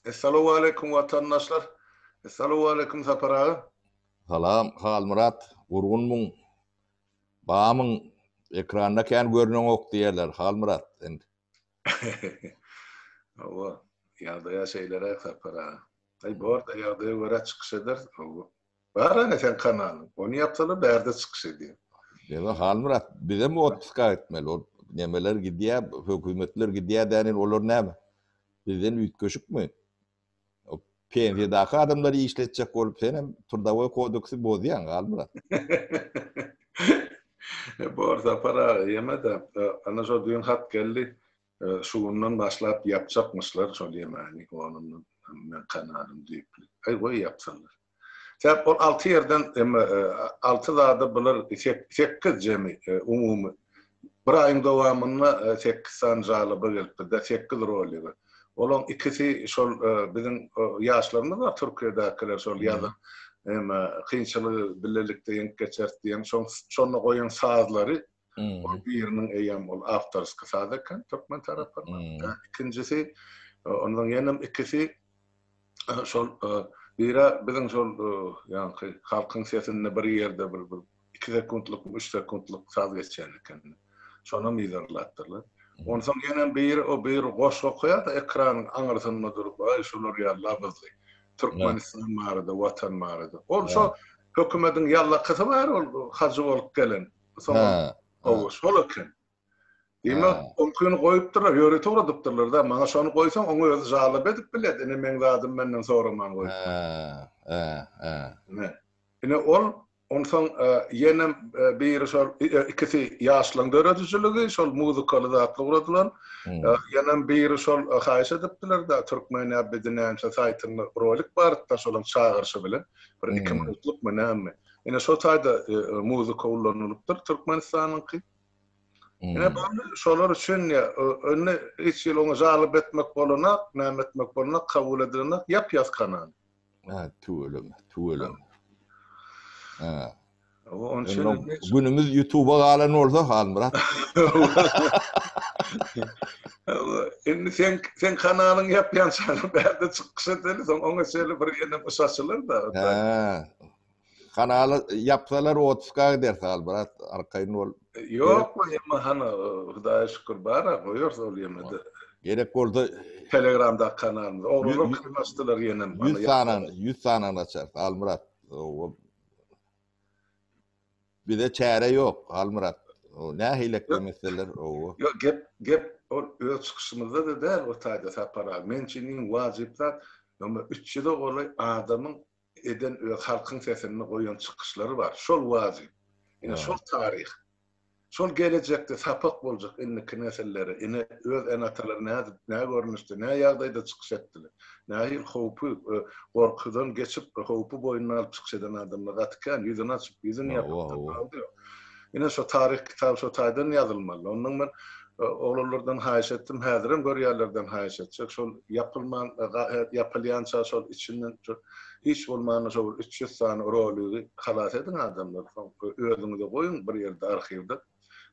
Essalowaleýkum watandaşlar. Essalowaleýkum Sapar aga. Salam Halmyrat gurgunmyň bamyň ekranda kän görneňok diýerler Halmyrat sen. Hawa ýagdaýa şeýleräk Sapar aga. Aý bor-da ýagdaýa görä çykyş ederis. Bar ana seň kanalyň. Ony ýapsalar bärde çykyş edýän. Dede Halmyrat bizem otpuska gitmeli ol nemeler gidýä hökümetler gidýä dän indi olar näme bizden üýtgeşikmi o pensiýadaky adamlary işletjek bolup senem trdawoý kodeksi bozýaň Halmyrat. Bor Sapar aga ýeme-de ana şo düýn hat geldi. Şu gündan başlap ýapjakmyşlar şol ýemani onundan men kanalym düýpli. Aý goý ýapsynlar. Sebäp ol alty ýerden emma alty zada bular sekiz jemi umumy bir aýyň dowamynda sekiz sany žaloba gelipdir-de sekiz rolige. Olaň ikisi şol biziň ýaşlarymyz bar Türkiýedäkiler şol ýazyň emma kynçylygy bilelikde ýeňip geçeris diýen şoň şonda goýan sazlary Ol biriniň eýýäm ol awtorski saz eken türkmen tarapyndan. Ikinjisi ondan ýenem ikisi şol biri biziň şol ýaňky halkyň sesinde bir ýerde bir bir iki sekuntlyk üç sekuntlyk saz geçýän eken. Şonam yzarlapdyrlar. Onsoň ýenem biri o biri goşgy okaýar-da ekranyň aňyrsynda durup aý şular ýaly labyzly. Türkmenistan barada watan barada. Ol şo hökümediň ýallakysy bar ol hajy bolup gelen. Soňra Oguş, Hol eken. Diýmek, oňkyny goýupdyrlar, ýörite ugradypdyrlar-da. Maňa şony goýsaň, oňa özi jalap edip bilet, ine, meň zadym menden soraman goýupdyr. Ine, ol onsoň ýene biri şol ikisi ýaşlaryň döredijiligi, şol muzykaly zatly ugradylan. Ýenem biri şol haýyş edipdiler-de, Türkmenäbidi näme saýtynda rolik bardy-da, şolaň çagyryşy bilen, bir iki minutlukmy, näme. Ine şo taýda muzika ulanylypdyr Türkmenistanyňky. Ine boldy şolar üçin ýa indi hiç hili oňa jalyp etmek bolanak, näme etmek bolanak kabul edilenak ýap-ýas kanal. Hä tüweleme, tüweleme. Hä. Onuň üçin günümiz YouTube-a galan bolsa Halmyrat. Indi sen sen kanalyň ýapýan çagyr bärde çykyş edeli soň oňa şeýle bir ýene bir saçylar-da. Hä. Kanaly yapsalar 30 k gider sal brat arkaýyn bol. Ýok bu ýeme hany Hudaýa şükür bara goýarys ol ýemede. Gerek bolsa Telegramdaky kanalymyz. Oglanlar kyryn açdylar ýenem. 100 sanyny 100 sanyny açarys Halmyrat. Bize çäre ýok Halmyrat. Nähili eklemek isleler? Ýok gep gep ol öz çykyşymyzda da däl o taýda Sapar aga. Meň üçin iň wajyp zat ýöne 300 golaý adamyň eden öz halkyň sesinde goýan çykyşlary bar. Şol wajyp. Ine şol taryh. Şol gelejekde sapak boljak indiki nesillere. Ine öz ene-atalary nädip, nä görnüşde, nä ýagdaýda çykyş etdiler. Nähili howpy, gorkudan geçip, howpy boýnuna alyp çykyş eden adamlar gaty kän. Ýüzüni açyp, ýüzüni ýapyp, tapawudy ýok. Ine şo taryh kitaby şo taýdan ýazylmaly. Ondan men oglanlardan haýyş etdim, häzirem görýärlerden haýyş etjek. Şol ýapylman ýapylýança şol içinden hiç bolmanda şo bir üç ýüz sany roligi halas ediň adamlar. Soň özüňize goýuň bir ýerde arhiwde.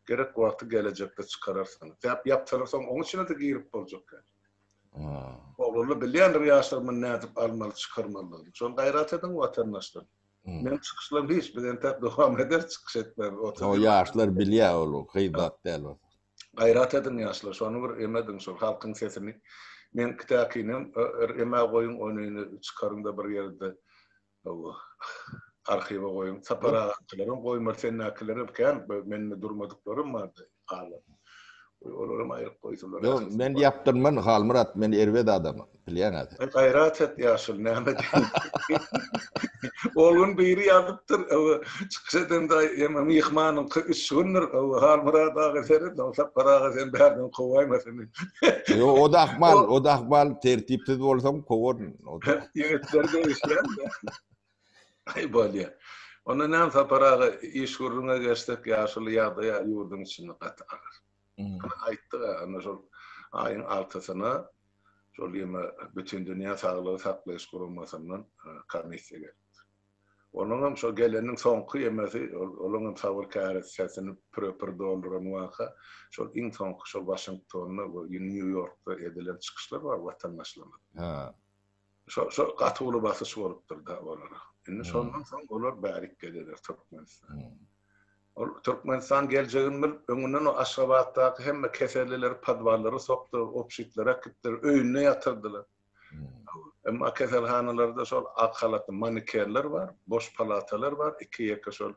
Gerek wagty gelejekde çykararsyňyz. Däp ýapsalar soň oň içine-de girip boljak däl. Oglanlar bilýändir ýaşlar muny nädip almaly, çykarmalydygyny. Şony gaýrat ediň watandaşlar. Men çykyşlar hiç bir entek dowam eder çykyş etmez. O yaşlar bilya ol gybat däl o. Gayrat edin yaşlar şonu bir emedin şol halkyn sesini. Men kitakinem eme goyun onini çykaryn da bir yerde o arhiva goyun. Sapar ağa kilerim goymar sen nakilerim kän menini durmadyklarym vardy. Galmyrat. Goý olaram aýryp goýsunlar. Ýok, men ýapdyrman Halmyrat, men erbet adamym, bilýäňä sen. Aý gaýrat et ýaşul, näme diýýin. Ol gün biri ýazypdyr, owo, çykyş edende ýene myhmanyňky üç gündir, owo, Halmyrat aga seret, owo, Sapar aga sen bärden kowaýmasyn. Ýok, o-da ahmal, o-da ahmal, tertipsiz bolsaň kowaryn. Ýigitler degişýär-de. Aý bolýa. Onda näme Sapar aga iş gürrüňe geçsek ýaşuly ýagdaýa ýurduň içinde gaty agyr. Ana aýtdyk a ana şol aýyň altysyna şol ýene Bütindünýä saglygy saklaýyş guramasyndan komissiýa gelipdir. Onuň hem şo geleniň soňky ýemesi olaň hem sabyr käresesini püre-pür dolduran waka şol iň soňky şo Waşingtonda we Nýu-Ýorkda edilen çykyşlar bar watandaşlarymyzyň. Şo şo gaty uly basyş bolupdyr da olara. Indi şondan soň olar bärik gelýärler Türkmenistana. Ol Türkmenistan geljegini bilip, öňünden o Aşgabatdaky hemme kesellileri podwallara sokdular, obşitlere äkitdiler, öýünde ýatyrdylar. Emma keselhanalarda şol ak halatly manikerler bar, boş palatalar bar, iki-ýeke şol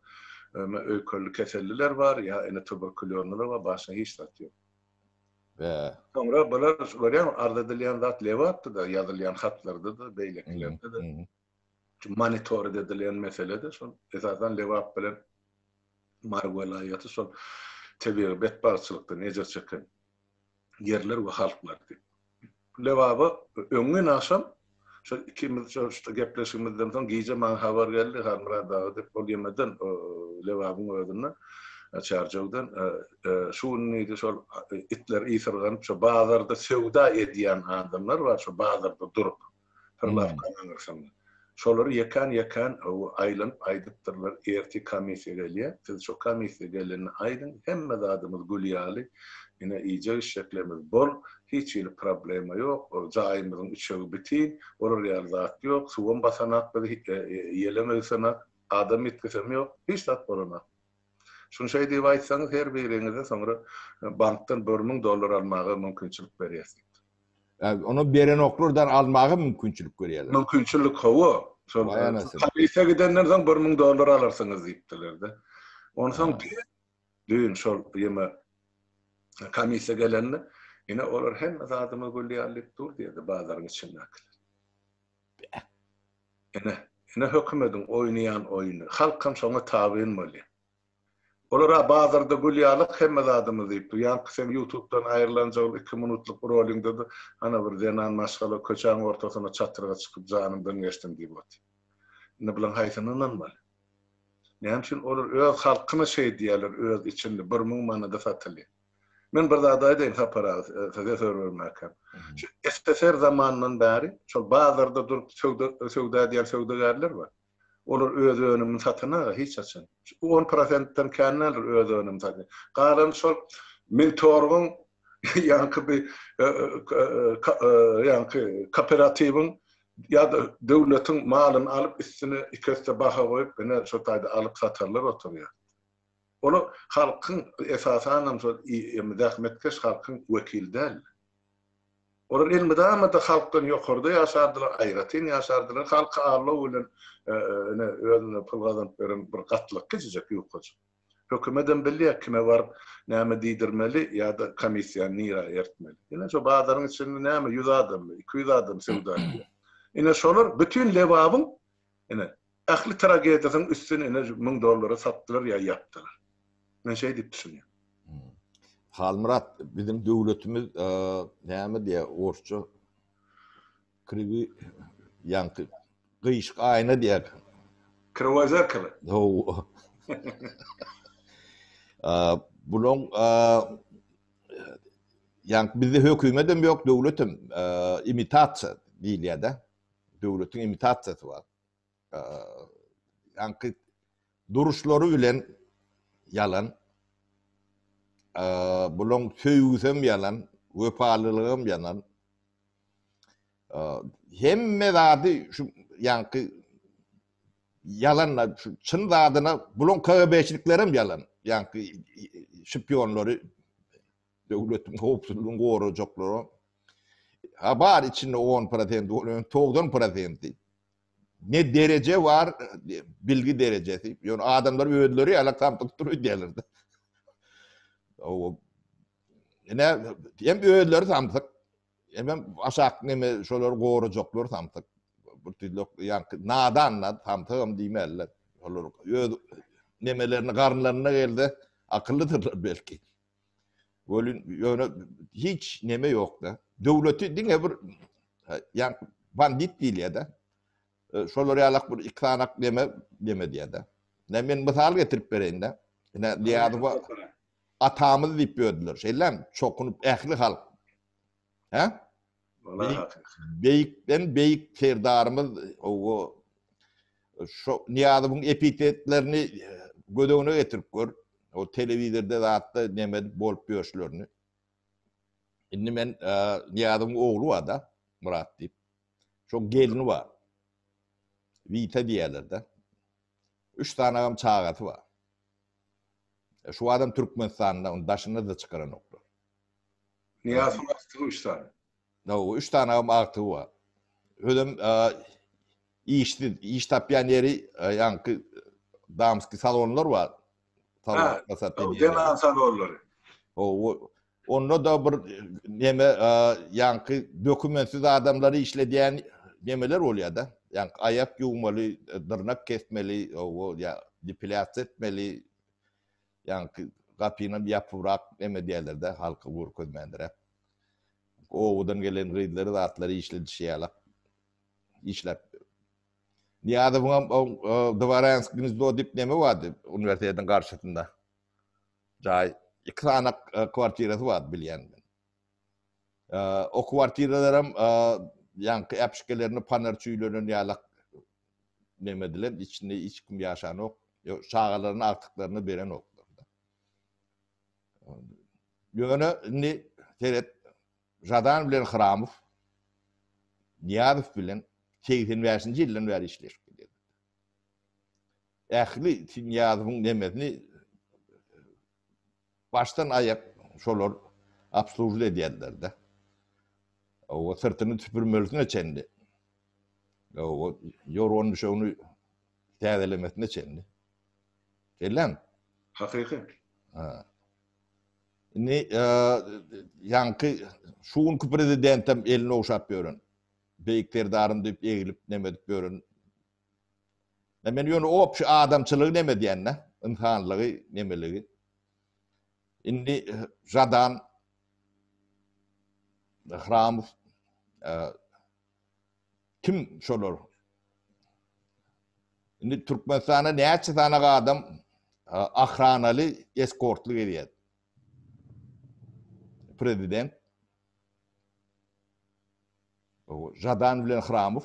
öýkelli keselliler bar, ýa indi tuberkulýonlylar bar, başga hiç zat ýok. Bäh. Soňra bular görýäňmi, arz edilýän zat Lebapda-da, ýazylýan hatlarda-da, beýlekilerde-de. Şu monitored edilýän mesele-de şol, esasan Lebap bilen Mary welaýaty şol tebigy betbagtçylykdan ejir çeken ýerler we halklar diýip. Lebaba öňňin agşam şol ikimiz şo-şda gepleşigimizden soň gije maňa habar geldi, Halmyrat aga diýip, ol ýemeden, o Lebabyň özünden, Çärjewden, Şu gün diýdi, şol itler ysyrganyp, şo bazarda söwda edýän adamlar bar, şo bazarda durup, prylawkanyň aňyrsynda. Şolary ýekän-ýekän aýlanyp aýdypdyrlar, ertir komissiýa gelýär, siz şo komissiýa gelende aýdyň, hemme zadymyz gül ýaly, ine, iýjek-içjeklerimiz bol, hiç hili problema ýok, jaýymyzyň üçegi bitin, olar ýaly zat ýok, suwam basanak biz, ýelem öwsenak, adam ýitgisem ýok, hiç zat bolanak. Şuny şeý diýip aýtsaňyz, her biriňize soňra bankdan bir müň dollar almaga mümkinçilik berýäs diýipdir. Ony berenoklardan almaga mümkinçilik berýärler. Mümkinçilik hawa, şol polisiýa gidenden soň bir müň dollar alarsyňyz diýipdiler-de. Onsoň düýn şol ýeme komissiýa gelende, ine olar hemme zadyma gül ýalylyp dur diýdi bazaryň içindäkiler. Ine, ine hökümediň oýnaýan oýny. Halkam şoňa tabyn bolýar. Olar-a bazarda gül ýalyk hemme zadymyz diýip dur. Ýaňky seň ýutubdan aýrylanjygym iki minutlyk roliňde-de ana bir zenan maşgala köçäň ortasyna çatyrga çykyp janymdan geçdim diýip otyr. Indi bulaň haýsyna ynanmaly? Näme üçin olar öz halkyna şeý diýýärler öz içinde bir müň manada satylýar. Men bir zat aýdaýyn Sapar aga size söz bermäkäm. Şu SSR zamanyndan bäri şol bazarda durup söwda söwda edýän söwdagärler bar. Olar öz önümini satan aga hiç haçan. On prosentden kän däldir öz önümini satýan. Galany şol Mintorgyň ýaňky bir ýaňky kooperatiwiň ýa-da döwletiň malyny alyp üstüne iki esse baha goýup ine şo taýda alyp satarlar oturýar. Olar halkyň, esasanam şol zähmetkeş halkyň wekili däldi. Olar elmydama-da halkdan ýokarda ýaşardylar, aýratyn ýaşardylar. Halky aldaw bilen ine özüne pul gazanyp beren bir gatlyk kiçijek, ýukajyk. Hökümetem bilýär kime baryp näme diýdirmeli ýa-da komissiýany nirä ertmeli. Ine şo bazaryň içinde näme ýüz adammy, iki ýüz adam söwda edýär. Ine şolar bütin Lebabyň, ine, Ähli tragediýasynyň üstüni ine şu müň dollara satdylar ýa ýapdylar. Men şeý diýip düşünýän. Halmyrat biziň döwletimiz näme diýýär orsça kriwi ýaňky gyşyk aýna diýýär. Kriwoý zerkalo. Hawa. Bulaň ýaňky bizde hökümet hem ýok, döwlet hem imitasiýa diýilýär-de. Döwletiň imitasiýasy bar. Ýaňky duruşlary bilen ýalan. Bulaň söýgüsem ýalan, wepalylygam ýalan. Hemme zady şu ýaňky ýalanla çyn zadyna bulaň KGB-çiliklerem ýalan. Ýaňky şpionlary Döwletiň howpsuzlygyny gorajaklara ha bar içinde on prosent bolan togsan prosenti ne dereje bar bilgi derejesi ýöne adamlar özleri ýalak samsyk dur öýdýärler-de. O ine hem özleri samsyk hem hem aşak neme şolary gorajaklar samsyk. Bir tüzlük ýaňky nadanlar samsygam diýmänler. Olar öz nemelerini garynlarynda gelse akyllydyrlar belki. Welin ýöne hiç neme ýokda. Döwleti diňe bir ýan bandit diýilýärde. Şolar ýalak bir iki sanak neme neme diýärde. Ne men mysal getirip bereýinde. Ne Diýazowa atamyz diýip ýördüler. Şeýlem çokunyp ähli halk. He? Beýikden beýik serdarymyz owo şu Niýazowyň epitetlerini göz öňüne getirip gör. O telewizorda zatda näme edip bolup ýörşlerini. Indi men Niýazowyň ogly bar-da, Murat diýip. Şoň gelini bar. Wita diýerler-de. Üç sanagam çagasy bar. Şu adam Türkmenistanda, daşyna-da çykaranoklar. Niýazyň agtygy üç sany. Hawa, üç sanagam agtygy bar. Özem işsiz, iş tapýan ýeri ýaňky damski salonlar bar. Deňan salonlary. Hawa, onda-da bir neme ýaňky dokumentsiz adamlary işledýän nemeler bolýar-da. Ýaňky aýak ýuwmaly, dyrnak kesmeli, hawa, ýa depilýasiýa etmeli. Ýaňky gapynam ýapybrak neme diýerler-dä, halka görkezmändiräp. Obadan gelen gyzlary zatlary işledişýärler. Işläp. Nyýazowyňam o Dworansk gnezdo diýip neme bardy, uniwersitetiň garşysynda. Jaý, iki sany kwartirasy bardy bilýän. O kwartiralaram ýaňky äpişgelerini panar çüýlenen ýalak neme edilen, içinde hiç kim ýaşanok. Çagalaryna agtyklaryna berenoklar. Ýöne indi seret Jadan bilen Hramow Niýazow bilen 85-nji ýyldan bäri işleşip gelýär. Ähli Niýazowyň nemesini Başdan aýak şolar obslužit edýärler-de. Hawa, syrtyny süpürmelisine çenli. Hawa, ýorgan-düşegini täzelemesine çenli. Şeýlemi? Hakyky. Ha. Indi ýaňky şu günki prezidentem elini ogşap ýören, Beýik Serdarym diýip eglip neme edip ýören Men ýöne opşy adamçylygy neme edýän-dä, ynsanlygy, nemeligi. Indi Žadan, Hramow, kim şolar? Indi Türkmenistana näçe sanaga adam ahranaly, eskortly gelýär? Prezident Žadan bilen Hramow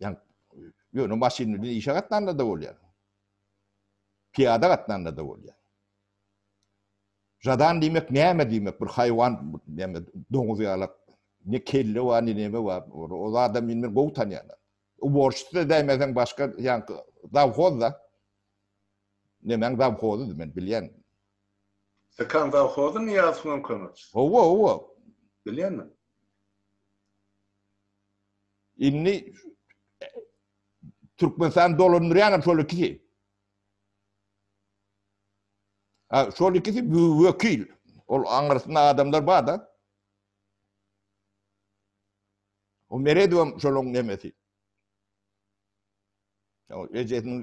Yani yöne maşin bilen işe gatnanda da bolýar. Piyada gatnanda da bolýar. Jadan diýmek näme diýmek? Bir haýwan näme doňuz ýalak ne kelle bar, ne näme bar. O adam meni gowy tanýar. O borçsuz da däýmesen başga ýan zawhoz da. Nemäň zawhozy men bilýän. Sykan zawhozy Niýazowyň kömekçisi. Owa, owa. Bilýänmi? Indi Türkmenistan dolandyrýanam şol ikisi. Ha, şol ikisi wekil. Ol aňyrsynda adamlar bar da. O Meredowam şoluň nemesi. O ejesiniň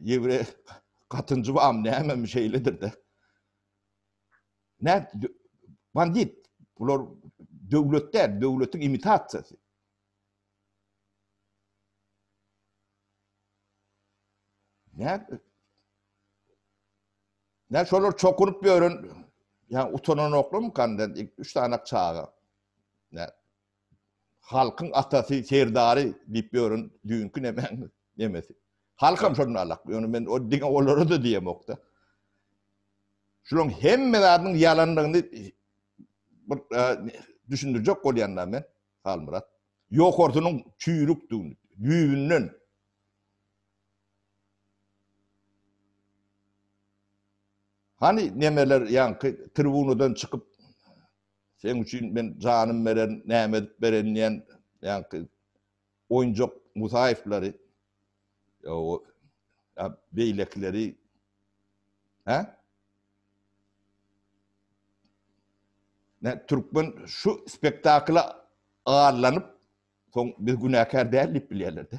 ýewreý gatynjy bam näme şeýledir de. Nä bandit bular döwlet däl, döwletiň imitasiýasy. Nä? Nä şolar çokuryp ýören, ýa utananoklarmy kandan, üç sany çaga. Nä? Halkyň atasy, serdary diýip ýören düýnki nemäň nemesi. Halkam şondan alak. Ýöne men diňe olara-da diýemok-da. Şularyň hemme zadynyň ýalandygyny bir düşündirjek bolýan-da men, Halmyrat. Ýokarsynyň çüýrükdigini, düýbünden. Hany nemeler ýaňky tribunadan çykyp, Seň üçin men janym bererin, näme edip bererin diýen ýaňky oýunjak Musaýewleri, beýlekileri, hä? Nä türkmen şu spektakla arlanyp, soň biz günäkär däl diýip bilýärler-de.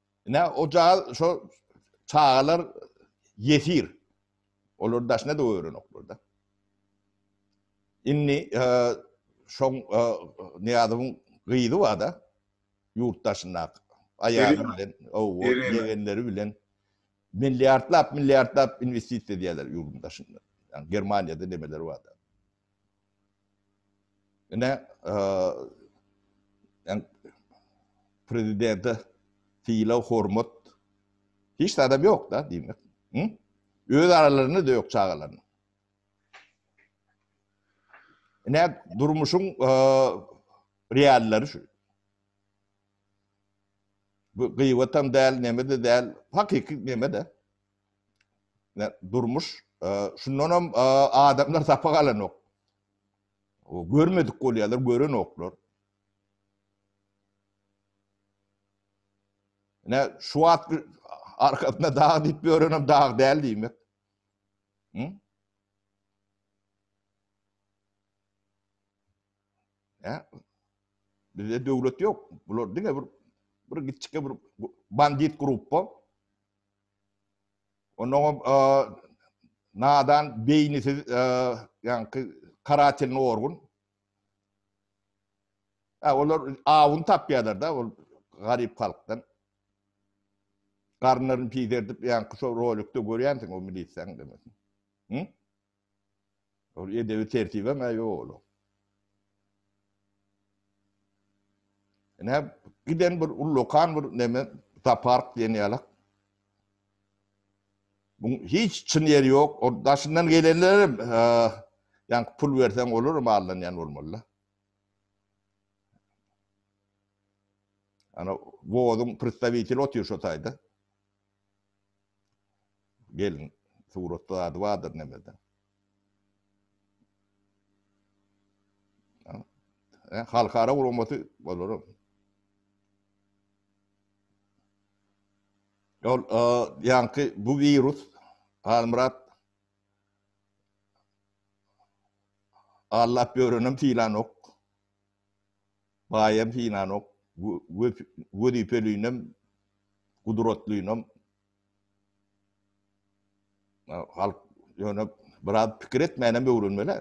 Ine, o cagyz şo çagalar ýesir. Olar daşyna da öwrenoklar-da. Indi şoň Nyýazowyň gyzy bar-da, ýurt daşyndaky aýaly bilen, owo, ýegenleri bilen milliardlap, milliardlap investisiýa edýärler ýurduň daşynda. Ýagny Germaniýada nemeleri bar-da. Ine, prezidente sylag-hormat hiç zadam ýok-da, diýmek. Öz aralarynda-da ýok çagalaryň. Ine, durmuşyň reallary şu. Bu gyýbatam däl, neme-de däl, hakyky neme-de. Ýa durmuş şundanam adamlar sapak alanok. O görmedik bolýarlar, görenoklar. Ne şu wagt arkasynda dag diýip ýörenem dag däl diýmek. Hı? He? Bizde döwlet ýok. Bular diňe bir bir gitçikge bir bandit gruppa. Ondan o nadan beýnisiz ýaňky karatelny orgun. Ha olar awun tapýarlar da ol garyp halkdan. Garynlaryny piderdip ýaňky şo rolikde görýänsiň o milisiýaň demek. Hı? Ol edebi tertibem-ä ýok olaň. Ine, giden bir ullakan bir neme, tapark diýen ýalak. Bu hiç çyn ýeri ýok. O daşyndan gelenlerim, ýa pul berseň olar mallanýan bolmaly. Ana, wozuň predstawiteli otyr şo taýda. Gelin suratda zady bardyr nemede. Ä halkara guramaty bolara. Ol e, ýaňky bu wirus Halmyrat Allap ýörenem tilanok. Baýam synanok, wezipelinem, gudratlynam. Halk ýöne biraz pikir etmänem öwrenmeli-ä.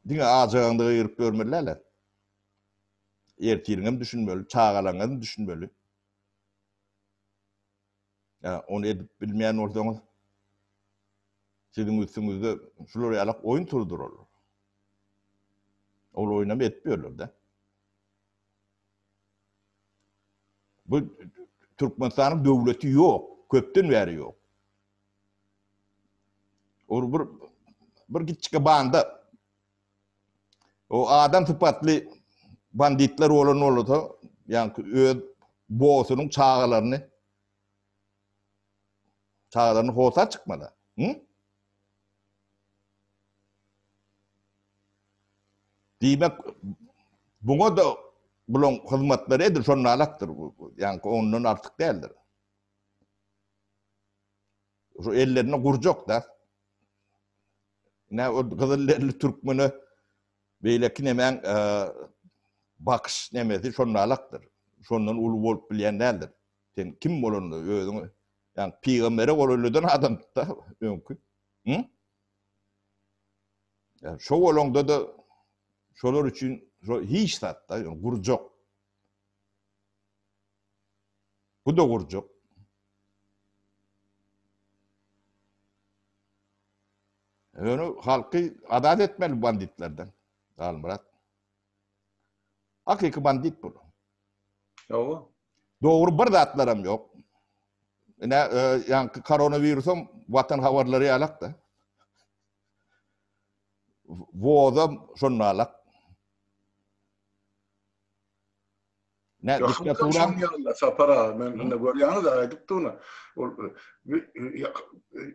Diňe ajagaňda gygyryp ýörmeli däl-ä. Ertiriňem düşünmeli, çagalaryňam düşünmeli. Ýa ony edip bilmeýän bolsaňyz, siziň üstüňizde şular ýaly oýun turdurarlar. Ol oýunam edip ýörler-de. Bu Türkmenistanyň döwleti ýok, köpden bäri ýok. Ol bir bir giçke banda O adam sypatly banditler bolan bolsa, ýa-ni öz bossunyň çagalaryny çagalaryny hosa çykmala. Hı? Diýmek, buňa da bulaň hyzmatlary edil şonda alakdyr. Ýa-ni ondan artyk däldir. Şu ellerinde gurjak da. Nä o gyzyl derili türkmene beýleki nemäň bakyş nemesi şonalakdyr. Şondan uly bolup bilýän däldir. Sen kim bolanda özüňi ýa pygambere gol üleden adamdyk-da öňki. Hä? Ýa şo bolanda-da şolar üçin hiç zat-da gurjak. Bu-da gurjak. Ýöne halky azat etmeli banditlerden, Halmyrat. Hakyky bandit bul. Hawa. Dogry bir zatlaram ýok. Ine, e, ýaňky koronawirusam watan habarlary ýalak-da. Wozam şonda alak. Ne dikme turan. Sapar aga men indi görýäňiz aýdypdy ony. Ol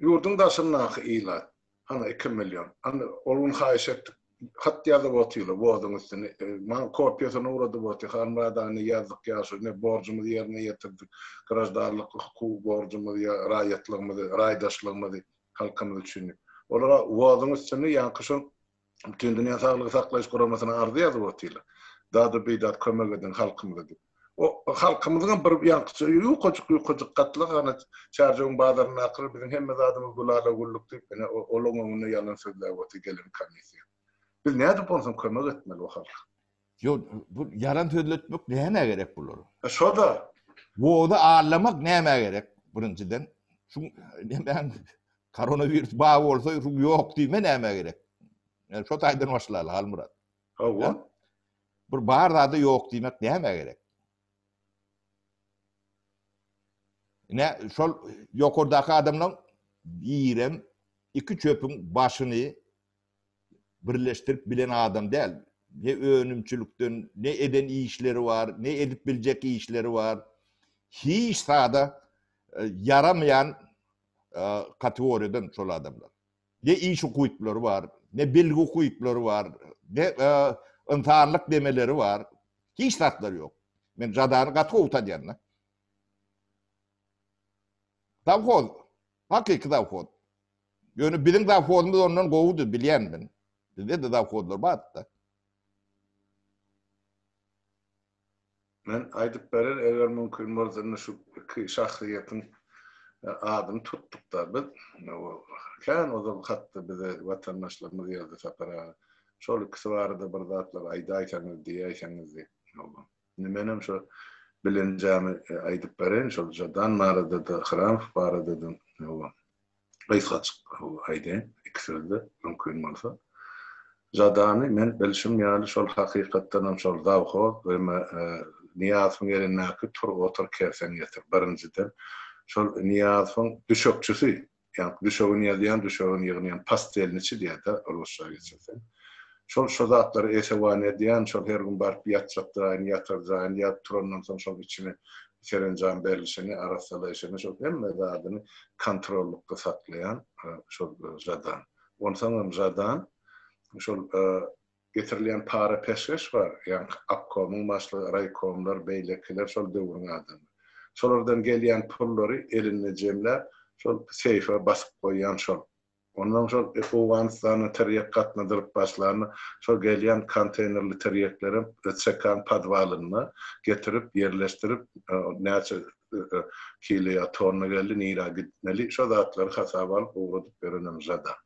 ýurduň daşyndaky ilat. Ana 2 million. Ana ol gün haýyş etdik. Hat ýazyp otyla wozyň üstüne. Maňa kopiýasyny ugradyp oty. Halmyrat aga ne ýazdyk ýaşuly ne borjumyzy ýerine ýetirdik. Graždanlyk hukuk borjumyzy ýa raýatlygymyzy, raýdaşlygymyzy halkymyz üçin. Olara wozyň üstüne ýaňky şol Bütindünýä saglygy saklaýyş guramasyna arza ýazyp otyrlar. Dady bidat kömek ediň halkymyza diýip. O halkymyzyňam bir ýaňkyça ýukajyk ýukajyk gatlagy ana çärjewiň bazaryndakylar biziň hemme zadymyz gül ala güllük diýip ine olaň öňünde ýalan sözläp otyr gelen komissiýa. Biz nädip onsoň kömek etmeli o halka. Yo bu yalan sözletmek näme gerek bular? E, Şoda. Woda allamak näme gerek? Birinjiden şu nämen koronavirus ba bolsa şu ýok diýme näme gerek? Yani şu taýdan başlaýar Halmyrat. Hawa. Bir bar zady ýok diýmek näme gerek? Ne şol ýokardaky adamlaryň birem iki çöpüň başyny birleşdirip bilen adam däl. Ne önümçilikden, ne eden işleri bar, ne edip biljek işleri bar. Hiç zada ýaramaýan kategoriýadan şol adamlar. Ne iş ukyplary bar, ne bilgi ukyplary bar, ne ynsanlyk demeleri bar. Hiç zatlary ýok. Men Jadany gaty gowy tanýan-da. Zawhoz Hakyky zawhod. Ýöne biziň zawhodymyz ondan gowudy, bilýän men. Bizde-de zawhodlar bardy-da. Men aýdyp berer, eger mümkin bolsa, indi şu iki şahsyýetiň adyny tutduk-da biz. Kän ozal hatda bize watandaşlarymyz ýazdy Sapar aga. Şol ikisi barada bir zatlar aýdaýsaňyz, diýäýseňiz diýip. Indi menem şo bilenjämi aýdyp bereýin, şol Žadan barada-da, Hramow barada-da howa, gysgajyk howa aýdaýyn, iki sözde, mümkin bolsa. Žadany men bilşim ýaly, şol hakykatdanam şol zawhoz we Nyýazowyň elindäki tur-otur, kersen-getir, birinjiden, şol Nyýazowyň düşekçisi, Ýa düşegini ýazýan, düşegini ýygnaýan, pastýelniçi diýýär-dä, rusça geçirseň. Şol şo zatlary esewan edýän, şol her gün baryp ýatjak jaýyny, ýatar jaýyny, ýatyp turandan soň şol içini serenjam berlişini, arassalaýşyny, şol hemme zadyny kontrollykda saklaýan şol Žadan. Onsoňam Žadan şol Getirilýän para peşgeş bar, ýaňky obkomyň başlygy, raýkomlar, beýlekiler şol döwrüň adamy. Şolardan gelýän pullary elinde jemläp, şol seýfe basyp goýýan şol. Onnoň şol Owganystana tirýek gatnadylyp başlanda, şol gelýän konteýnerli tirýeklerem CK-nyň podwalynda getirip ýerleşdirip, näçe kilo ýa tonna geldi, nirä gitmeli, şo zatlary hasaba alyp ugradyp berenem žada.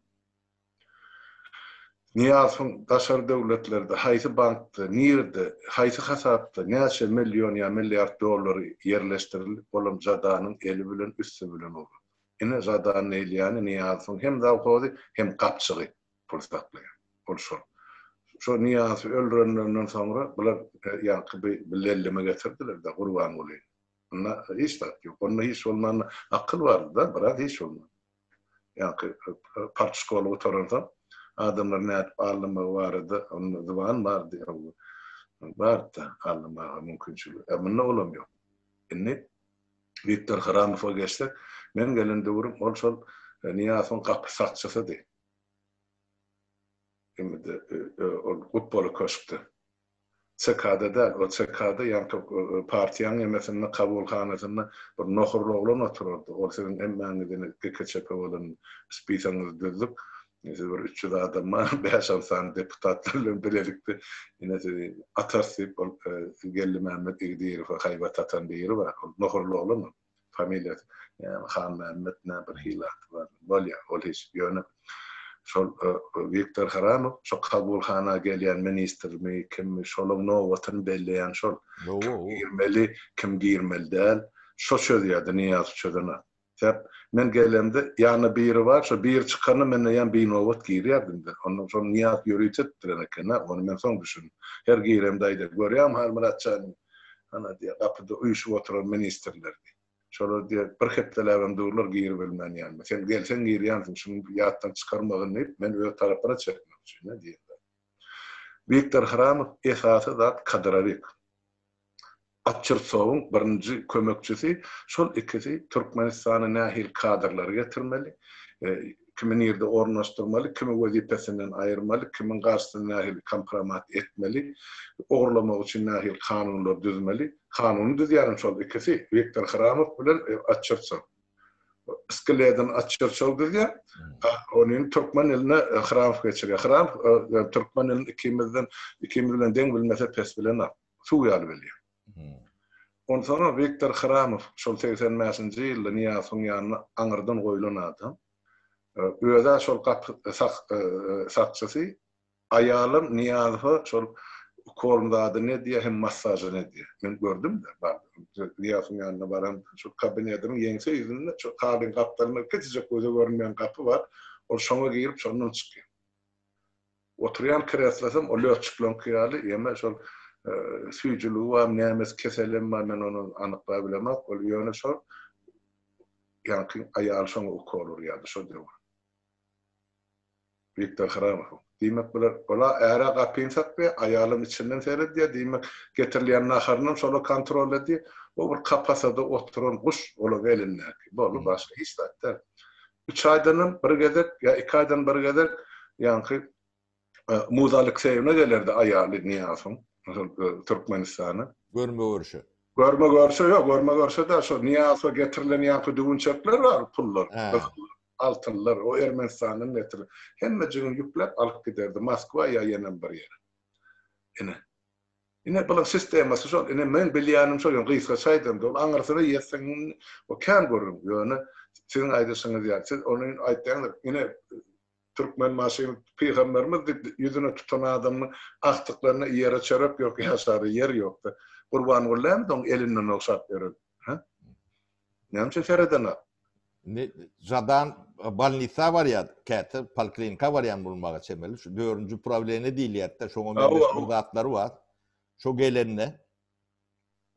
Nyýazowyň daşary döwletlerde haýsy bankda, nirede, haýsy hasapda näçe million ýa milliard dollary ýerleşdirilip, olam Zadanyň eli bilen, üsti bilen urlady. Ine, Zadanyň eýlýäni Nyýazowyň hem zawhozy, hem gapjygy pul saklaýan. Ol şol. Şo Nyýazowy öldürenlerinden soňra bular ýaňky bi bir lelleme getirdiler-de Gurbangulyny. Onda hiç zat ýok. Onda hiç bolmanda akyl bardy-da, biraz hiç bolmanda. ýaňky partşkoly gutaransoň, adamlar nädip aldamagy barada onda zyban bardy, bardy-da aldamaga mümkinçiligi. Ä munda olam ýok. Indi Wiktor Hramowa geçsek, men gelen döwrüm ol şol Nyýazowyň gapy sakçysydy. Indi ol Gutboly köşkde. CK-da däl, o CK-da ýantok partiýaň nemesinde kabulhanasynda bir nohurly oglan oturardy, ol siziň hemmäňizi GK-ÇP bolan spisaňyzy düzdük, siz bir üç ýüz adam bar, bäş-alty sany deputatlar bilen bilelikde ine sizi atarys diýip, ol Geldimämmet Igdiýerowa haýbat atan biri bar, ol nohurly oglan ol. familiýasy näme Hanmämmet nä bir hili ady bar. Bolýa, ol hiç. Ýöne şol Wiktor Haramow şo kabulhana gelýän ministrmi, kimmi, şolaň nobatyny belleýän şol. Kim girmeli, kim girmeli däl, şo çözýärdi, Nyýazow çözenok. Sebäp men gelemde ýanynda biri bar, şo biri çykanda men eýýäm binobat girýärdim-de. Onda şony Nyýaz ýörite etdiren eken-ä, ony men soň düşündim. Her giremde aýdar, görýäňmi Halmyrat janyň, Ana, diýýär, gapyda uýşup oturan ministrler, diýýär. Şolar, diýýär, bir hepdeläbem durlar, giribilmän ýanyma. Sen gelseň girýänsiň, şuny ýatdan çykarmagyn diýip, men öz tarapyna çekmek üçin-ä, diýýärler. Wiktor Hramow, esasy zat Kadyrowyk, Otçertsowyň birinji kömekçisi, şol ikisi Türkmenistana nähili kadrlary getirmeli, kimi nirde ornaşdyrmaly, kimi wezipesinden aýyrmaly, kimiň garşysyna nähili kompromat etmeli, ogurlamak üçin nähili kanunlar düzmeli, kanuny düzýänem şol ikisi, Wiktor Hramow bilen Atçerçow. Skleden Atçerçow düzýär, ony türkmen diline Hramow geçirýär. Hramow türkmen dilini ikimizden, ikimiz bilen deň bilmese, pes bilenok. Suw ýaly bilýär. Onsoňam Wiktor Hramow, şol segsen bäşinji ýylda Nyýazowyň ýanyna aňyrdan goýlan adam, öz-ä şol gapy sakçysy, aýalam Nyýazowa şol ukolny ady ne diýýär hem massažy ne diýýär. Men gördüm-de, bardym. Nyýazowyň ýanyna baramda, şol kabinetiniň ýeňse ýüzünde, şol kabyň gapdalynda kiçijek göze görünmeýän gapy bar, ol şoňa girip, şondan çykýar. Oturýan kreslosam o lötçükleriňki ýaly, ýeme şol süýjüligi barmy, nämesi, keselem bar, men ony anyklap bilemok. Ol ýöne şol ýaňky aýaly şoňa ukol urýardy şo döwür. Wiktor Hramowyň. Diýmek, bular ol-a äre gapyny sakýar, aýalam içinden seredýär, diýmek, getirilýän naharynam şol-a kontrol edýär. O bir kapasada oturan guş, ol-a welindäki. Boldy, başga hiç zat däl. Üç aýdanam bir gezek ýa iki aýdan bir gezek ýaňky Muza Alekseýewna gelerdi, aýaly Nyýazowyň, Türkmenistana. Görme-görşe. Görme-görşe, ýok, görme-görşe-de şo Nyýazowa getirilen ýaňky düwünçekler bar, pullar, altynlar, o Ermenistandan getirilen. Hemmejigini ýükläp alyp giderdi Moskwa ýa ýenem bir ýere. Ine. Ine bunuň sistemasy şol. Ine meň bilýänim şol ýöne gysgaça aýdamda ol aňyrsyna ýetseň ol kän gürrüň. Ýöne siziň aýdyşyňyz ýaly siz ony aýtýaňyz ine türkmen maşyn pygamberimiz diýip ýüzüne tutan adamynyň agtyklygynda ýere çörek ýok ýaşara ýer ýokda Gurbangullymyz oň elinden ogşap ýören. Hä? Näme üçin seredenok? Indi Žadan bolnisa barýar, käte poliklinika barýan bolmaga çemeli. Şu dördünji uprawleniýe diýilýärdi-de, şoňa meňzeş bir zatlary bar. Şo gelende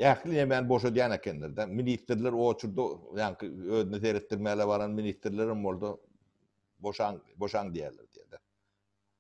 ähli nämäni boşadýan ekenler-de. Ministrler oçurdy, ýaňky özüne seretdirmäge baran ministrler hem boldy. Boşaň, boşaň diýýärler diýdi.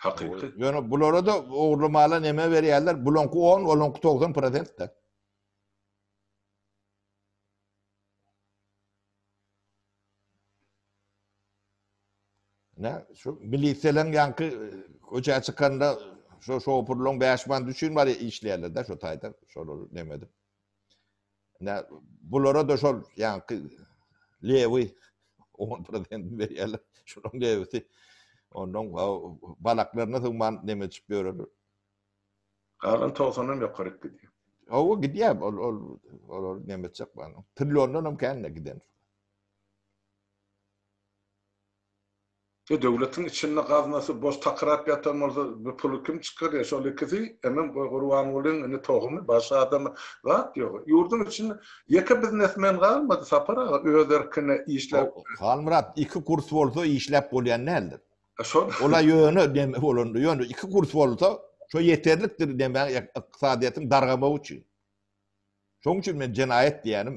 Hakyky. Ýöne bulara-da ogurly mala neme berýärler? Bulaňky on, olaňky togsan prosent-de. Ne? Şu miliseleň ýanky e, köçä çykanda şu şopurlaň 5 manat üçin bar işleýärler-de şu taýdan. Şolar neme edip. Nä, bulara-da şol ýaňky lewi on prezent berýärler, şunuň lewisi ondan balaklaryna sygman neme içip ýörerler. Galan togsandan ýokaryk gidýär. Hawa, gidýär, ol, ol, olar neme etjek, trilliondan hem kän giden. E döwletiň içinde gaznasy boş takyrap ýatan bolsa bu puly kim çykarýa şol ikisi emem goý gurbangulyň indi tohumy baş adamy zat ýok ýurduň içinde ýeke biznesmen galmady sapar aga öz erkine işläp Halmyrat iki kurs bolsa işläp bolýan däldir ola ýöne deme bolanda ýöne iki kurs bolsa şo ýeterlikdir demäň ykdysadyýetiň dargamagy üçin şoň üçin men jenaýat diýýänim.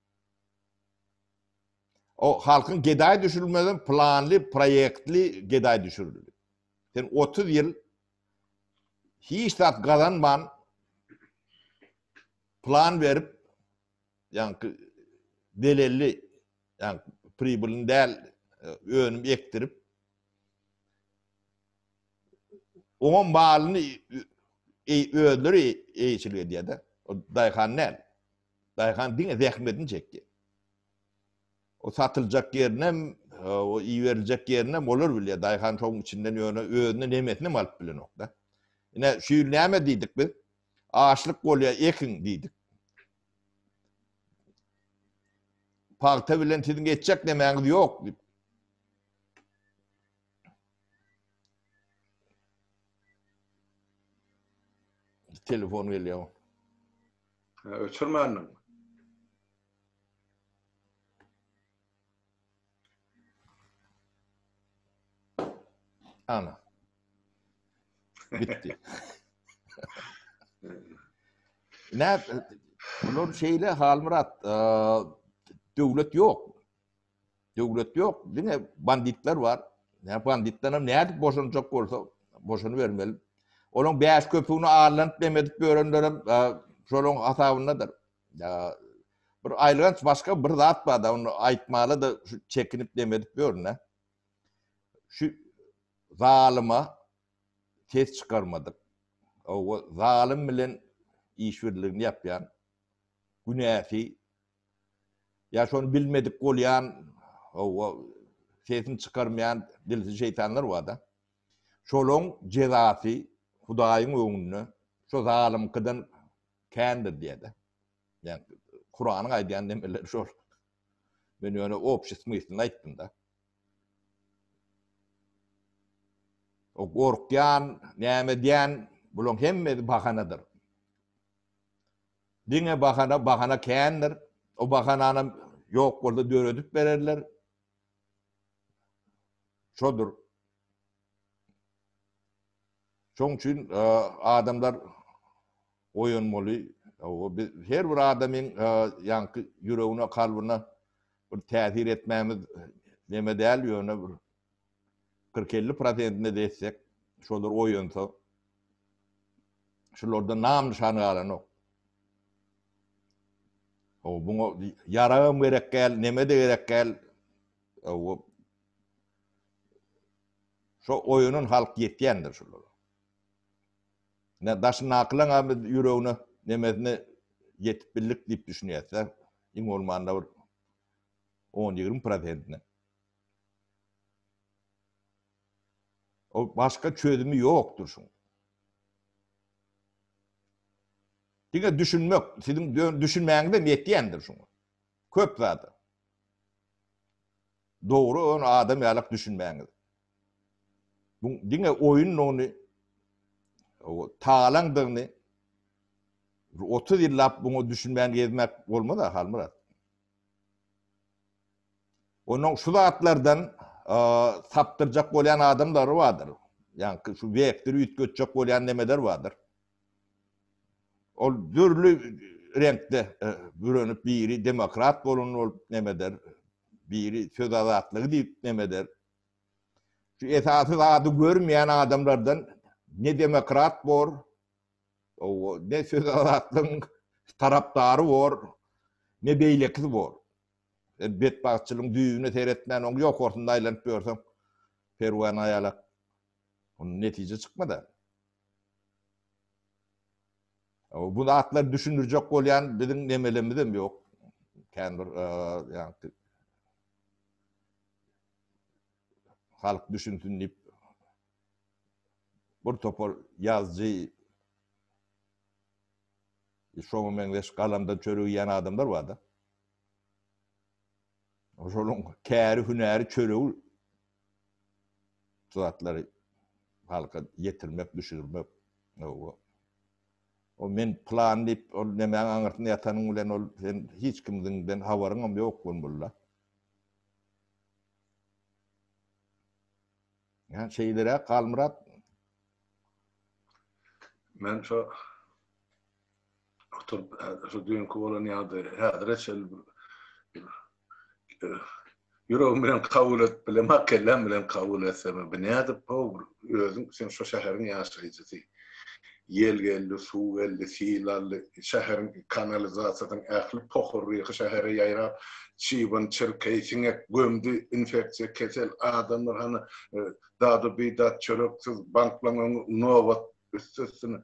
O halkyň gedaýy düşürilmeden planly proýektli gedaýy düşürildi. Sen otuz ýyl hiç zat gazanman plan berip ýaňky delelli ýaň pribilini däl önüm ekdirip oňa malyny özleri eýeçilik edýär-de. O daýhan däl. Daýhan diňe zähmetini çekdi. O satyljak ýerinem, o iberiljek ýerinem olar bilýär. Daýhan şoň içinden ýöne özüne nemesinem alyp bilenok-da. Ine, şu ýyl näme diýdik biz? Açlyk bolýar, ekiň diýdik. Pagta bilen siziň etjek nemäňiz ýok diýip. Telefon gelýär. Ha, öçürmändiň. Ana. Bitti. Näp? Bular şeýle Halmyrat, döwlet ýok. Döwlet ýok, diňe banditler bar. Näme banditlerem nädip boşanjak bolsa, boşanybermeli. Olaň bäş köpügini arlanyp nem edip ýörenlerem şolaň hasabyndadyr. Bir aýylganç başga bir zat bar-da, ony aýtmaly-da şu çekinip nem edip ýörün-ä. Şu zalyma ses çykarmadyk. Hawa, zalym bilen işbirligini ýapýan, günäsi Ýa şony bilmedik bolýan, hawa, sesini çykarmaýan dilsiz şeýtanlar bar-da. Şolaň jezasy Hudaýyň öňünde şu zalymkydan kändir diýýär-de. Ýagny Kuranyň aýdýan demeleri şol. Men ýöne obşi smyslny aýtdym-da. O gorkýan, näme edýän, bulaň hemmesi bahanadyr. Diňe bahana, bahana kändir. O bahananam ýok bolsa döredip bererler. Şodur. Şoň üçin adamlar oýanmaly. Her bir adamyň ýaňky ýüregine, kalbyna bir täsir etmämiz neme däl, ýöne bir kyrk-elli prosentine dessek, şolar oýansa, şularda nam-nyşan galanok. O, buňa ýaragam gerek däl, neme-de gerek däl. O, şo oýanan halk ýetýändir şolara. Ne daşyndakylaň abi ýüregine nemesine ýetip bildik diýip düşünýärse, iň bolmanda bir on ýigrimi prosentine. Ol başga çözümi ýokdur şuň. Diňe düşünmek, siziň düşünmäňizem ýetýändir şuňa. Köp zada. Dogry ony adam ýalak düşünmäňiz. Bu diňe oýundygyny, talaňdygyny, 30 ýyllap buňa düşünmän gezmek bolmaz-a, Halmyrat. Onuň şu zatlardan sapdyrjak bolýan adamlary bardyr. Ýaňky şu wekdir üýtgetjek bolýan nemeler bardyr. Ol dürli reňkde bürenip biri demokrat bolun bolup nemedir, biri söz azatlygy diýip nemedir. Şu esasy zady görmeýän adamlardan ne demokrat bor, ne söz azatlygyň tarapdary bor, ne beýlekisi bor. Sen betbagtçylygyň düýbüne seretmän, oň ýokarsynda aýlanyp ýörseň, perwany aýalap, ondan netije çykmaz-a. Bu zatlary düşündirjek bolýan biziň nemelemizem ýok. Kän bir ýagty halk düşünsin diýip bir topar ýazjy şoňa meňzeş galamdan çörek ýan adamlar bar-da. Şoluň käri hünäri çöregi şu zatlary halka ýetirmek düşürmek owo. O men plan diýip ol nemäň aňyrsynda ýatanyň bilen ol sen hiç kimdiňden habaryňam ýok bolmalyda. Yani şeylere Kalmyrat. Men şu oturup şu dünkü bolan ýagdaý häzire çel Ýüregim bilen kabul et bilen, kelläm bilen kabul etsem, bu nädip bu özüm sen şu şäheriň ýaşaýjysy. Ýel geldi, suw geldi, sil aldy. Şäheriň kanalizasiýasynyň ähli pohurryhy şähere ýaýrap, çybyn, çirkeý, siňek gömdi. Infeksiýa kesel, adamlar hany dady-bidat, çöreksiz, banklaň öňi nobat, üsti-üstüne.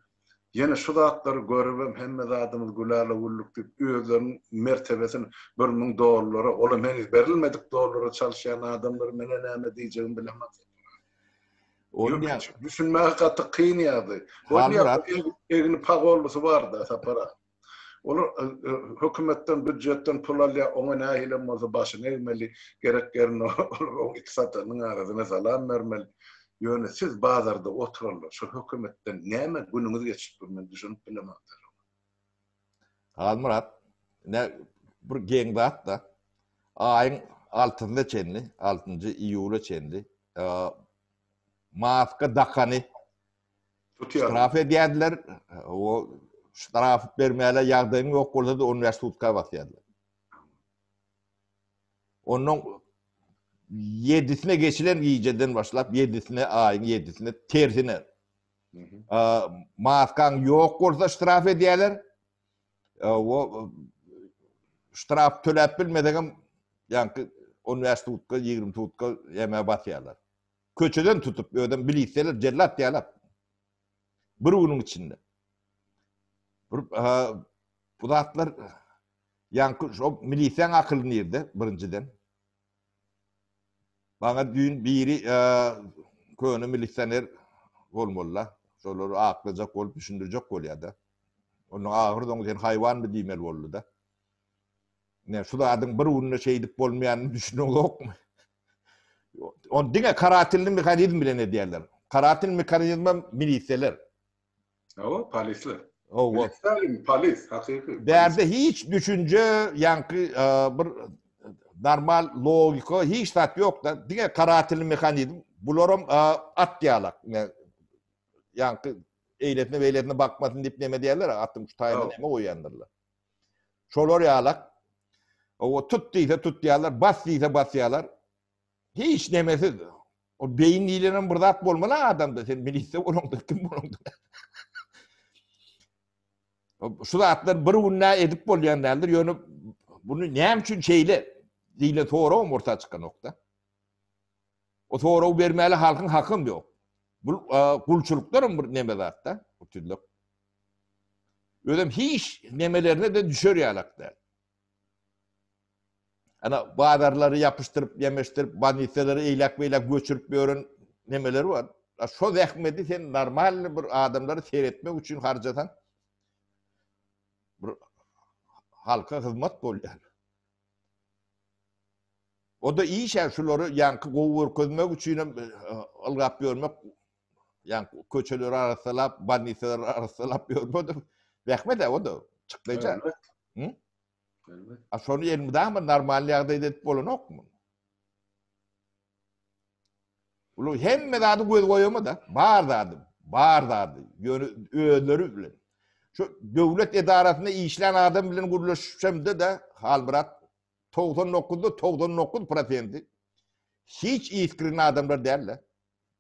Ýene şu zatlary görübem hemme zadymyz gülala-güllük diýip, özleriniň mertebesini bir müň dollara, olam heniz berilmedik dollara çalyşýan adamlary men-ä näme diýjegimi bilemok. Ony ýaşa düşünmäge gaty kyn ýagdaý. Egni pagollusy barda sapara. Olar hökümetden büdjetden pul alýa, oňa nähilem bolsa başyny egmeli, gerek ýerinde olar it satanyň arasyna salam bermeli. Ýöne siz bazarda oturanlar şu hökümetden näme günüňiz geçip dur men düşünip bilemok. Halmyrat, ine, bir geň zat-da. Aýyň altysyna çenli, altynjy iýula çenli maska dakany ştraf edýärdiler. Ol ştraf bermäge ýagdaýyň ýok bolsa-da, on bäş sutka basýardylar. Onuň ýedisine geçilen gijeden başlap, ýedisine, aýyň ýedisine tersine Maskan yok bolsa ştraf edýärler. O ştraf töläp bilmesegem ýaňky 15 tutka, 20 tutka ýeme basýarlar. Köçeden tutup ödem bilisler jellat ýalap. Bir günüň içinde. Bir bu zatlar ýaňky şu milisiýaň akyly nirde birinjiden? Maňa düýn biri köne milisioner bolmalyda, şolary aklyjak bolup düşündirjek bolýada. Ondan ahyrsoňy sen haýwanmy diýmeli boldyda. Ine şu zadyň bir günde şeýdip bolmaýanyny düşüneňokmy? Ony diňe karatilli mehanizm bilen edýärler. Karatil mehanizmem milisiýalar. Hawa, polisler. Hawa. Stalin polis, hakyky. Bärde hiç düşünje, ýaňky bir normal logika hiç zat ýok-da. Diňe karatilni mehanizm. Bularam at ýalak. Ýaňky eýletme beýletme bakmasyn diýip näme diýerler, atyň şu taýyna näme goýýandyrlar. Şolar ýalak. O tut diýse tutýarlar, bas diýse basýarlar. Hiç nemesiz. O beyin diýlenen bir zat bolmaly adamda. Sen milisiýa bolaňdyr, kim bolaňdyr. Şu zatlar bir günde edip bolýan däldir. Ýöne bunu näme üçin şeýle diýle soragym orta çykan nokta. O soragy bermäli halkyň hakym ýok. Bu gulçulyklarym bir neme zatda, uçudluk. Özüm hiç nemelerine de düşer ýalak däl. Ana bazarlary ýapyşdyryp, ýemişdirip, bolnisalary eýläk-beýläk göçürip ýören nemeleri bar. A şo zähmeti sen normalny bir adamlary seretmek üçin harjasaň, bir halka hyzmat bolýar. O-da iş-ä, şulary ýaňky gowy görkezmek üçinem ylgap ýörmek Ýa köçeleri arassalap, bannisalar arassalap ýörmedim. Zähmet o da. Çykdaýja. Hı? A şonu elmidama normal ýagdaýda edip bolanokmy? Ulan hemme zady göz goýama da, bar zady, bar zady. Ýöne özleri bilen. Şu döwlet edarasynda işlän adam bilen gürleşipsemde de, Halmyrat 99-da 99 prosenti hiç iskrin adamlar däl de.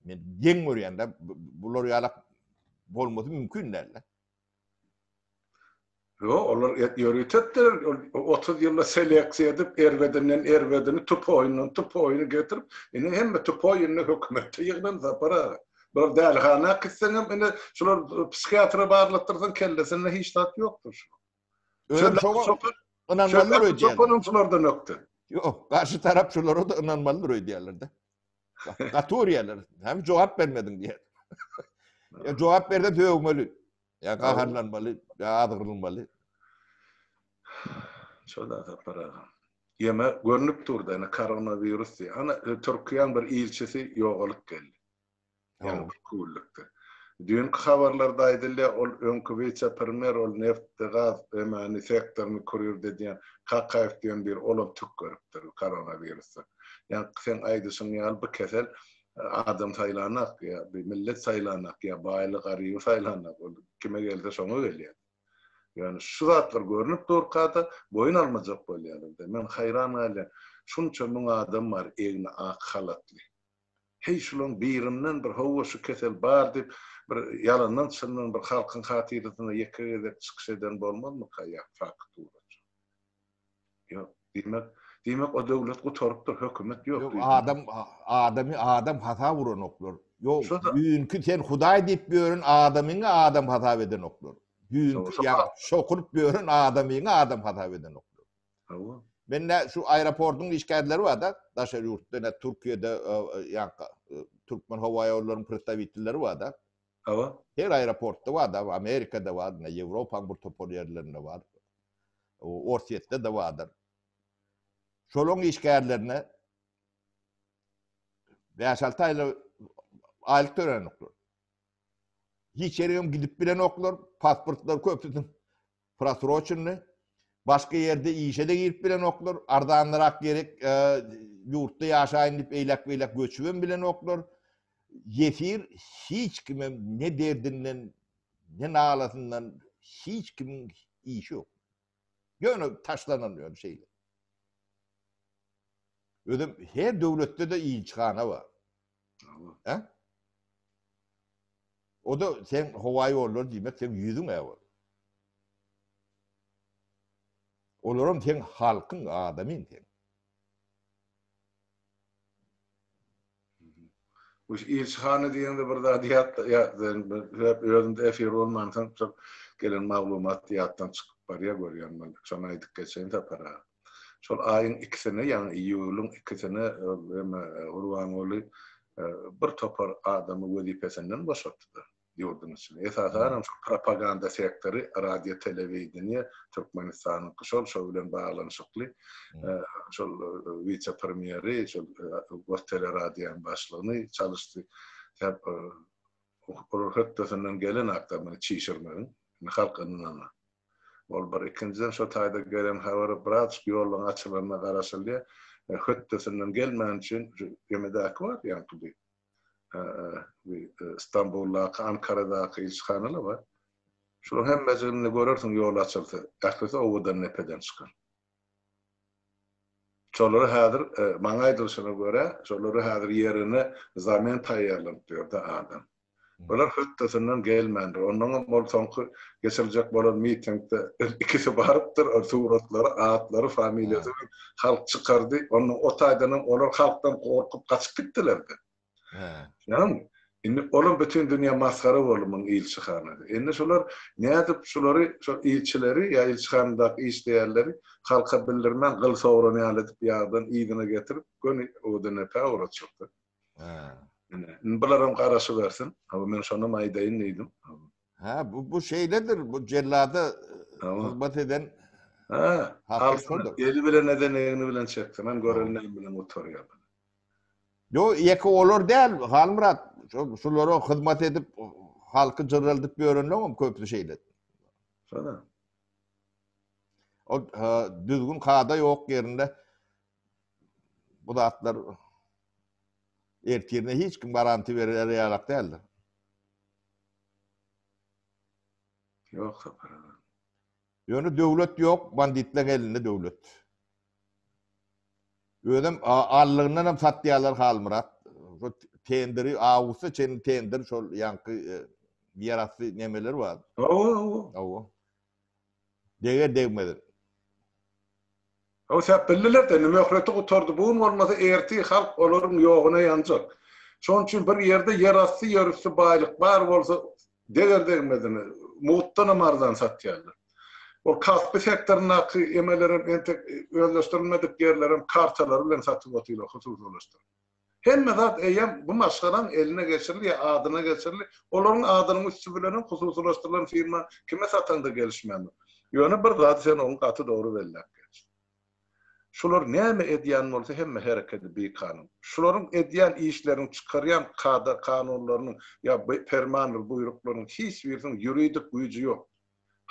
Men geň görýän-de, bular ýalak bolmasy mümkin däl-de. Ýok, olar ýöritipdir, otuz ýylda seleksiýa edip, erbedinden erbedini, tupoýundan tupoýuny getirip, indi hemme tupoý indi hökümetde ýygnan, Sapar aga. Bular dälihana gitseňem, indi şular psihiatra barlatdyrsaň, kellesinde hiç zat ýokdur. Özüm şoňa ynanmalydyr öýdýän. Çopanam şulardan ökde. Ýok, garşy tarap şulara da ynanmalydyr öýdýärler-de. Gaty urýarlar. Hem jogap bermediň diýýär. Ya jogap berse döwmeli. Ya gaharlanmaly, ya azgyrylmaly. Şoda tapara. Ýeme görnüp durdy, ana koronavirus diýýär. Ana e, Türkiýäň bir ilçisi ýogalyp geldi. Ýaňy bir küllükde. Düýnki habarlarda aýdylýar, ol öňki wise-premýer, ol neftdi, gaz, önäni, sektoryny kurýrdy edýän Kakaýew diýen biri, olam tükgeripdir bu koronawirusdan. Ýaňky seň aýdyşyň ýaly bu kesel adam saýlanok, ýa bir millet saýlanok, ýa baýly, garyby saýlanok, ol kime gelse şoňa gelýär. Ýöne şu zatlar görnüp durka-da, boýun almajak bolýarlar-da. Men haýran galýan, şunça müň adam bar egni ak halatly. Heý şulaň birinden bir howwa şu kesel bar diýip bir ýalandan çyndan bir halkyň hatyrasynda ýeke gezek çykyş eden bolmazmyka ýa faktura. Ýok diýmek diýmek o döwlet gutarypdyr hökümet ýok diýmek. Ýok adam adamy adam hasap uranoklar. Ýok düýnki sen hudaý diýip ýören adamyňy adam hasap edenoklar. Düýnki ýa şokuryp ýören adamyňy adam hasap edenoklar. Hawa. Men nä şu aeroportyň işgärleri bar-da, daşary ýurtda, nä Türkiýede, ýa-da türkmen howa ýollarynyň predstawitelleri bar-da. Hawa. Her aeroportda bar-da, Amerikada bar, nä Ýewropanyň bir topar ýerlerinde bar. Orsýetde-de bardyr. Şolaryň işgärlerine bäş-alty aýlyk aýlyk tölenoklar. Hiç ýere hem gidip bilenoklar, pasportlary köpüsiniň Prosroçenli, başga ýerde işe-de girip bilenoklar, arzanlarak gerek ýurtda ýaşaýyn diýip eýläk-beýläk göçübem bilenoklar. Ýesir hiç kime ne derdinden, ne nalasyndan hiç kimiň işi ýok. Ýöne taşlanan ýöne şeýle. Özem her döwletde-de ilçihana bar. He? O da sen howa ýollar diýmek sen ýüzüň äwel. Olaram sen halkyň adamyň sen. Bu ilçihana diýende bir zat ýatda ýatdan hep özüm efir bolmansoň gelen maglumat ýatdan çykyp barýar görýän men. Şony aýdyp geçeýin Sapar aga. Şol aýyň ikisine, ýagny iýulyň ikisine hem Gurbanguly bir topar adamy wezipesinden boşatdy ýurduň içinde. Esasanam şol propaganda sektory, radio, telewideniýe, Türkmenistanyňky şol, şo bilen baglanyşykly şol wise-premýeri, şol Gosteleradioň başlygyny çalyşdy. Sebäp ol hötdesinden gelenakda muny çişirmegiň, halk ynanana. Ol bir. Ikinjiden şo taýda gelen habar braçk ýoluň açylanyna garaşylýar. Hötdesinden gelmän üçin şu gemidäki bar ýaňky bir Stambuldaky, Ankaradaky ilçihanalar bar. Şolaryň hemmejiginde görersiň ýol açylsa, ählisi owadan nepeden çykar. Şolara häzir maňa aýdylyşyna görä, şolara häzir ýerine zamen taýýarlanyp ýörde adam. Olar hötdesinden gelmändir. Onnoňam ol soňky geçiriljek bolan mitingde ikisi barypdyr, ol suratlary, atlary, familiýasy bilen halk çykardy. Onda o taýdanam olar halkdan gorkup gaçyp gitdiler-de. Ýagny, indi olam bütin dünýä masgara boldy muň ilçi hanasy. Indi şular nädip şulary, şo ilçileri ýa ilçihanadaky işleýänleri halka bildirmän gyl sogran ýaly edip ýardan yzyna getirip göni o dine päwr atjakdyr. Ine, indi bularam garaşybersin. Hawa, men şonam aýdaýyn diýdim. Ha, bu bu şeýledir. Bu jellada hyzmat eden Ha, alsyn. Eli bilen eden egni bilen çeksin. Hem gören näme bilen oturýar. Yo, ýeke olar däl, Halmyrat. Şulara hyzmat edip, halky jyrraldyp ýörenler hem köpüsi şeýle. Şoda. O düzgün kada ýok ýerinde. Bu zatlar ertirine hiç kim garanti berer ýalak däldir. Ýok sapar aga. Ýöne döwlet ýok, banditleň elinde döwlet. Özem allygyndan hem satýarlar Halmyrat. Şu tenderi awgusta çenli tender şol ýanky e, ýerasty nemeler bar. Awa, awa. Awa. Deger degmedik. Höwsäp bildiler-de, indi möhleti gutardy, bu gün bolmasa ertir halk olaryň ýoguna ýanjak. Şonuň üçin bir ýerde ýerasty, ýerüsti baýlyk bar bolsa, deger degmedini, mugtdanam arzan satýarlar. Ol kasby sektoryndaky emelerem entek özleşdirilmedik ýerlerem kartalary bilen satyp otyrlar, hususylaşdyryp. Hemme zat eýýäm bu maşgalaň eline geçirildi ýa adyna geçirildi. Olaryň adynyň üsti bilenem hususylaşdyrylan firma kime sataňda gelişmändir. Ýöne bir zady sen oňa gaty dogry belläp geç. Şular näme edýän bolsa hemme hereketi bikanun. Şularyň edýän işleriniň, çykarýan kada-kanunlarynyň ýa permandyr buýruklarynyň hiç birisiniň ýuridik güýji ýok.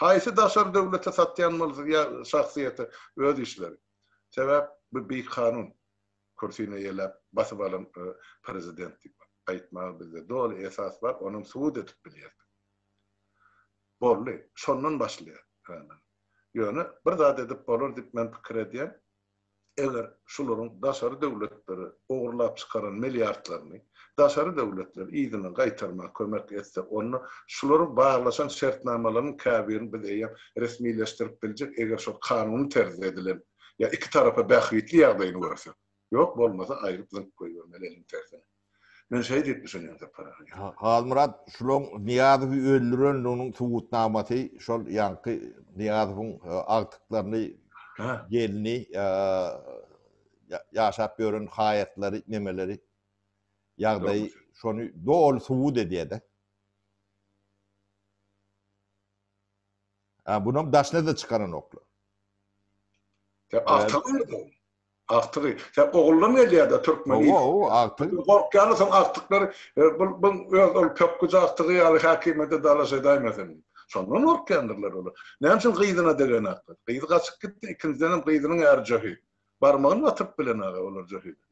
Haýsy daşary döwlete satýan bolsa ýa şahsyýete öz işleri. Sebäp bu bikanun. Kürsini eýeläp, basyp alan prezident diýip aýtmaga bizde doly esas bar, onuň subut edip bilýärdik. Boldy, şondan başlaýar. Ýöne bir zat edip bolar diýip men pikir edýän, eger şularyň daşary döwletlere ogurlap çykaran milliardlaryny daşary döwletler yzyna gaýtarmaga kömek etse, onda şulary baglaşan şertnamalaryň käbirini biz eýýäm resmileşdirip biljek, eger şol kanuny terzde edilen Ýa iki tarapa bähbitli ýagdaýyny görsek. Ýok bolmasa aýryp zyňyp goýbermeli eliň tersine. Men şeý diýip düşünýän Sapar aga. Halmyrat şulaň Nyýazowy öldürendiginiň subutnamasy şol ýaňky Nyýazowyň agtyklaryny gelni ýaşap ýören haýatlary nemeleri ýagdaýy şony doly subut edýäde. A bunam daşnada çykaranoklar. Sen agtygy nerede? Agtygy. Sen oguldan gelýärde türkmen ilki. Owo, owo, agtyk. Gorkýarlar soň agtyklar, bul, bul öz ol pökgüji agtygy ýaly häkimede dalaş edäýmesin. Şondan gorkýandyrlar olar. Näme üçin gyzyna degenaklar? Gyzy gaçyp gitdi, ikinjidenem gyzynyň äri jöhi. Barmagyny batyryp bilenag-a olar jöhide.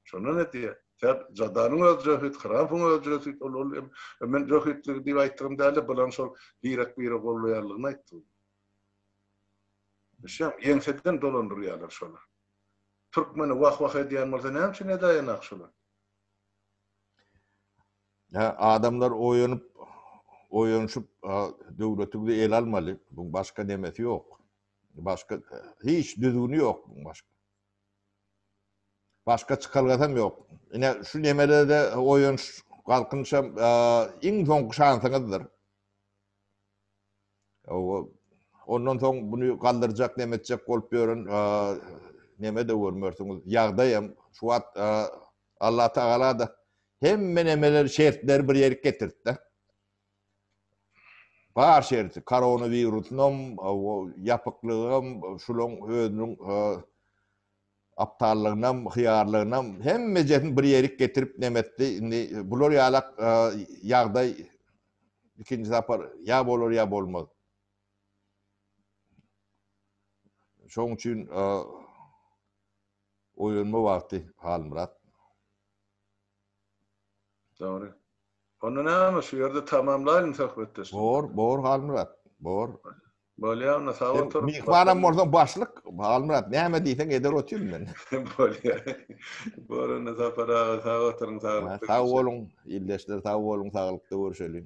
Şondan öte, Ser Jadanyň özi jöhit, Hramfyň özi jöhit, ol, ol, em, em men jöhitligi diýip aýtdygym däldi, bularyň şol birek-bire gollaýanlygyny aýtdygym. Düşýäňmi? Ýeňseden dolandyrýarlar şolar. Türkmeni wah-wah edýän bolsa, näme üçin edäýenak şolar? Hä, adamlar oýanyp, oýanyşyp, a, döwletiňizi ele almaly. Buň başga nemesi ýok. Başga, hiç düzgüni ýok buň başga. Başga çykalgasam ýok. Ine, şu nemelerde oýanyş, galkynyş hem iň soňky şansyňyzdyr. Hawa, ondan soň muny galdyrjak, neme etjek bolup ýören neme-de görmersiňiz, ýagdaý hem. Şu wagt Allatagala-da hemme nemeleri, şertleri bir ýerik getirdi-de. Bar şerti, koronawirusynam, ýapyklygam, şulaň özüniň aptallygynam, hyýarlygynam, hemmejesini bir ýerik getirip nemetdi. Indi bular ýalak ýagdaý ikinji sapar ýa bolar, ýa bolmaz. Şoň üçin oýlanma wagty, Halmyrat. Dogry. Onda näme şu ýerde tamamlaýyň söhbetdeşligimizi. Bor, bor Halmyrat, bor. Bolýar onda sag otur. Myhmanam bolsaň başlyk, Halmyrat näme diýseň eder otyryn men. Bolýar. Bor onda Sapar aga sag oturyň, saglykda. Sag boluň ildeşler, sag boluň, saglykda görüşeliň.